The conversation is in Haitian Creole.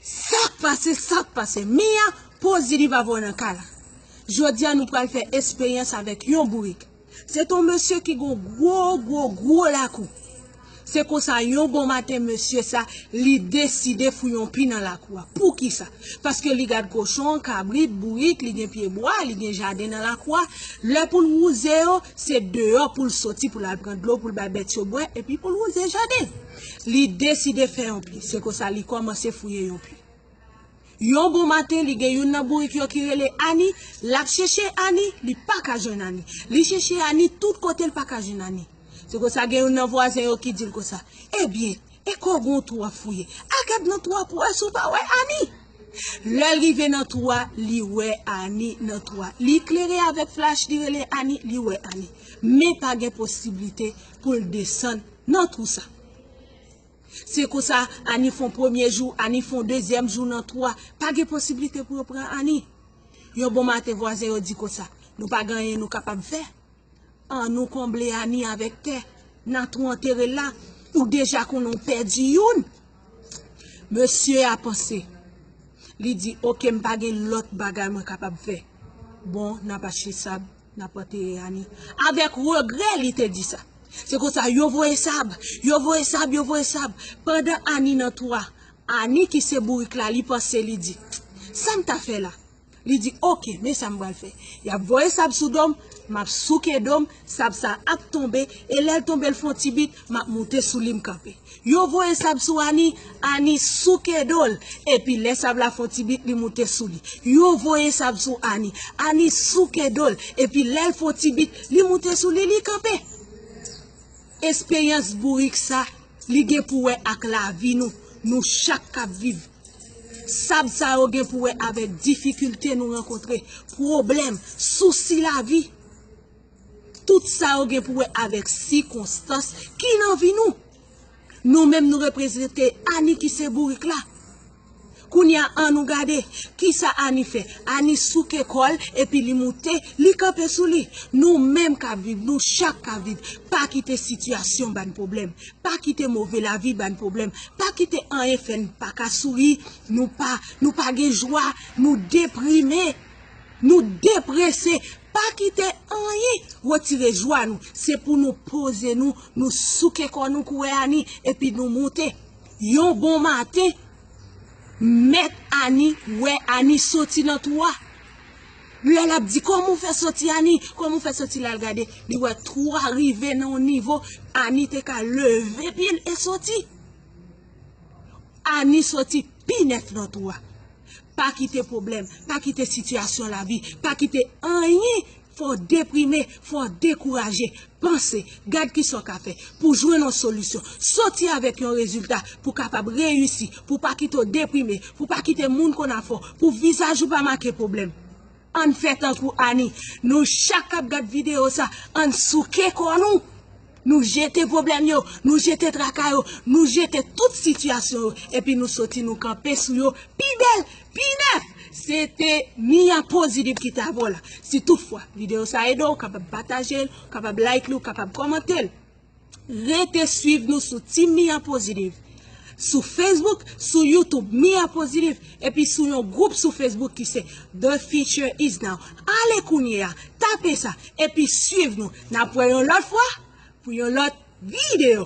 Sak pase sak pase Mia pozi li pa voye nan kay la Jodia nou pral fè esperyans avèk yon bourik Se ton mesye ki gon gwo gwo gwo lakou Se konsa yon bon maten mesye sa li deside fouye yon pi nan lakou a Poukisa paske li gad kochon kabrit bourik li gen pye bwa li gen jaden nan lakou a Lè pou l wouze yo se deyò pou l soti pou l al pran dlo pou l bay bèt yo bwè epi pou l wouze jaden. Li deside fè yon pi. Se konsa li kòmanse fouye yon pi. Yon bon maten, li gen youn nan bourik yo ki rele Ani. L ap chèche Ani, li pa ka jwenn Ani. Li chèche Ani tout kote, l pa ka jwenn Ani. Se konsa gen youn nan vwazen yo ki di l konsa, Ebyen, e kò w gen yon twou w ap fouye? Al gad nan twou a pou w wè si w pa wè Ani. Lè l rive nan twou a, li wè Ani nan twou a. Li klere avèk flach, li rele Ani, li wè Ani. Men pa gen posiblite pou l desann. Nan twou sa. Se konsa Ani fon premye jou, Ani fon dezyèm jou nan twou a. Pa gen posiblite pou yo pran Ani. Yon bon maten vwazen yo di konsa, Nou pa gen anyen nou kapab fè. An nou konble Ani avèk tè. Nan twou antere l la. Ou deja konnen ou pèdi youn. Mesye a panse. Li di, Oke m pa gen lòt bagay mwen kapab fè. Bon, n ap achte sab. Nap antere Annie avèk regrè li te di sa. Se konsa yo voye sab, yo voye sab, yo voye sab. Pandan Annie nan twou a, Annie ki se bourik la li panse li di, Sam ta fè la? Li di ok men sam pral fè. Yap voye sab sou do m, map souke do m, sab sa ap tonbe e lèl tonbe l fon ti bit map moute sou li m kanpe. Yo voye sab sou Ani, Ani souke do l, epi lè sab la fon ti bit li moute sou li. Yo voye sab sou Ani, Ani souke do l, epi lè l fon ti bit li moute sou li, li kanpe. Esperyans bourik sa, li gen pou wè ak lavi nou, nou chak k ap viv. Sab sa yo gen pou wè avèk difikilte nou rankontre, pwoblèm, sousi lavi. Tout sa yo gen pou wè avèk sikonstans ki nan vi nou. Nou menm nou reprezante Annie ki se bourik la. Kounye a an nou gade ki sa Annie fè. Annie souke kò l epi li moute, li kanpe sou li. Nou menm k ap viv, nou chak k ap viv, pa kite sitiyasyon ba n pwoblèm, pa kite move lavi ba n pwoblèm, pa kite anyen fè n pa ka souri, nou pa gen jwa, nou deprime. Nou deprese, pa kite anyen retire jwa nou, se pou nou poze nou, nou souke kò nou kouwè Ani epi nou moute. Yon bon maten, mèt Ani wè Ani soti nan twou a. Lè l ap di kòman ou fè soti Ani, kòman ou fè soti la, l gade, li wè twou a rive nan yon nivo Ani te ka leve pye l e soti. Annie soti pi nèt nan twou a. Pa kite pwoblèm, pa kite sitiyasyon lavi, pa kite anyen fè w deprime, fè w dekouraje. Panse, gad kisa w ka fè pou w jwenn yon solisyon, soti avèk yon rezilta pou w kapab reyisi, pou w pa kite w deprime, pou w pa kite moun konn afè w, pou vizaj ou pa make pwoblèm. Ann fè tankou Ani, nou chak kap gad video sa, ann souke kò nou, nou jete pwoblèm yo, nou jete traka yo, nou jete tout sitiyasyon yo, epi nou soti nou kanpe sou yo pi bèl, pi nèf! Se te Mia Positive ki te avè w la. Si tout fwa video sa ede w, ou kapab pataje l, ou kapab like li, ou kapab kòmante l. Rete swiv nou sou Team Mia Positive, sou Facebook, sou YouTube Mia Positive epi sou yon gwoup sou Facebook ki se The Future Is Now. Ale kounye a, tape sa, epi swiv nou. N ap wè yon lòt fwa pou yon lòt videyo.